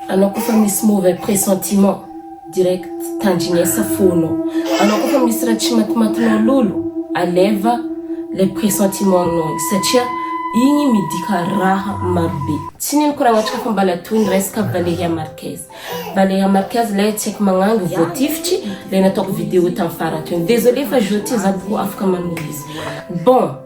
Anao koa fa misy mauvais pressentiment direct tandrinesa fonao anao koa fa misy raha tsy matimatinao lolo aleva le pressentiment nao igny satria igny midika raha marobe tsy neniko raha agnatrika fa mbala toy ny resaka Valeria Marquez Valeria Marquez lay tsy haiko magnangy voatifitry le nataoko vidéo tam farany teo désolé fa jour ty za boko afaka manoro izy bon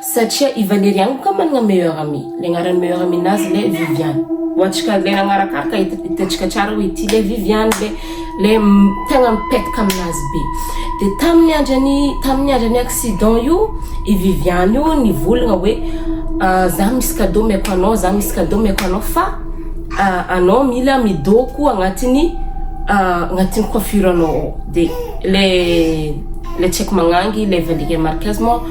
Satria i Valérie any koa managna meilleur amie, le agnaran'ny meilleur amie nazy le Viviane, ho antsika le nagnarakaraka hitantsika tsara hoe ity le Viviane le le tegna mipetaka aminazy be, de tamin'ny andran'ny tamin'ny andran'ny accident io i Viviane io nivolagna hoe za misy cadeau omeko anao za misy cadeau omeko anao fa anao mila midôko agnatin'ny agnatin'ny coiffure anao ao, de le le tsy aiko magnangy le Valérie Marquez moa.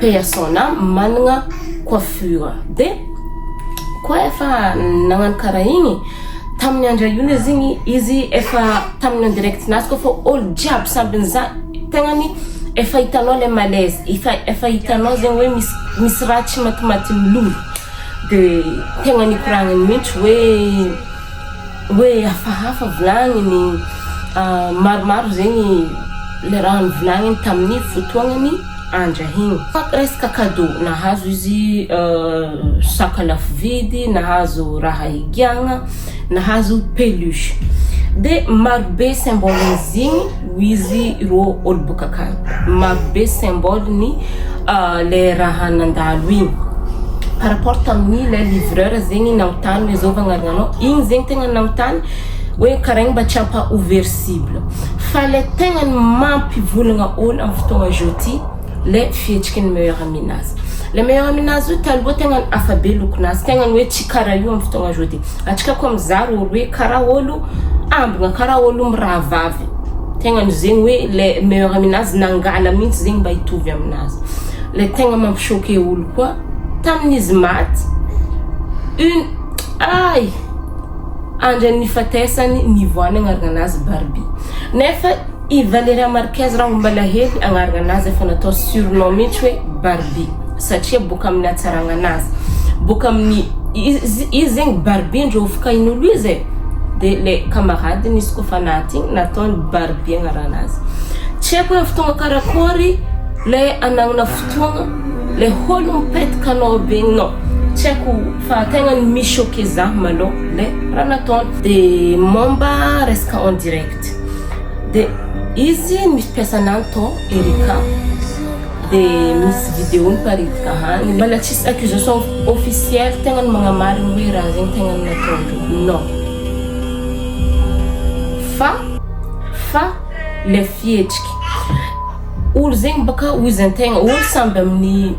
persona managna coiffure de koa efa nagnano kara igny tamin'ny andra io le zegny izy efa tamin'ny en direct nazy koa fa olo jiaby samby nizaha tegnany efa hitanao le malaise efa efa hitanao zegny hoe misy misy raha tsy matimaty milolo de tegna nikoragny mihitsy hoe Hoe hafahafa volagniny maromaro zegny le raha nivolagniny tamin'ny fotoagnany andra igny. Fa resaka cadeau, nahazo izy saka lafo vidy, nahazo raha higiagna, nahazo peluche. De marobe symbole-n'izy igny. Hoy izy ireo olo boka akany maro be symbole ny le raha nandalo iny par rapport tamin'ny le livreur zegny nanontany hoe zao vagnarana anao igny zegny tegna nanontany hoe karaigny mba tsy ampa ouvert cible fa le tegna ny mampivolagna olo am fotoagna zao ty le fihetsiky ny meilleur ami nazy le meilleur ami nazy io taloha tegna hafa be lokonazy tegna ny hoe tsy karaha io am fotoagna zao ty. Atrikako am za ro olo hoe kara olo ambina kara olo mirahavavy tegna no zegny hoe le meilleur aminazy nangala mintsy zegny mba hitovy aminazy le tegna mampi choque olo koa tamin izy maty une ay andriny nifatesany nivoany agnarana anazy barbie nefa I Valeria Marquez raha homba alahelo agnarana anazy efa natao surnom mihitsy hoe Barbie satria boka amin'ny hatsaragna anazy boka amin'ny izy zegny Barbie ndry ovokain'olo izy e de le kamaradiny izy koa fa naty igny nataony Barbie agnaranazy tsy haiko hoe fotoagna karakory le anagnana fotoagna le holo mipetka anao begny nao tsy haiko fa tegna ny mi choqué za malô le raha nataony de momba resaka en direct Dia izy misy mpiasana any tao Erika dia misy vidéo niparitika hany mbola tsisy accusation officielle tegna ny magnamary ny hoe raha zegny tegna nataondreo non fa fa le fihetsiky olo zegny baka ozy antegna olo samby amin'ny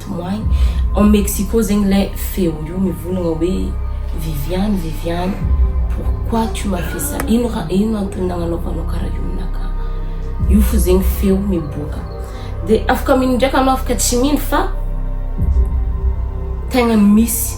Tomoiny ao Mexico zegny le feo io mivolagna hoe Viviane Viviane pourquoi tu m'as fait ça ino raha ino antony nagnanaovanao karaha io aminakahy io fo zegny feo miboaka de afaka mino ndraiky anao afaka tsy mino fa tegna misy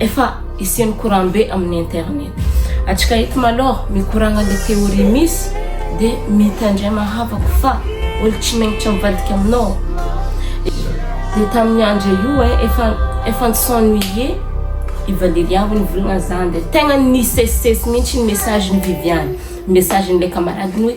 Efa isian'ny courant be amin'ny internet. Atsika eto malor mikoragna le theorie misy de mitandrema havako fa olo tsy megnitra mivadika aminao de tamin'ny andro io e efa efa ni s'ennuie i Valeria hoy nivolagna zany de tegna nisesisesy mintsy ny message n'i Viviane, message n'ilay camarade-ny hoe.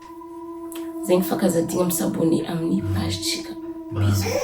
Zegny fa ka za digny misabone amin'ny page-tsika. Bisous.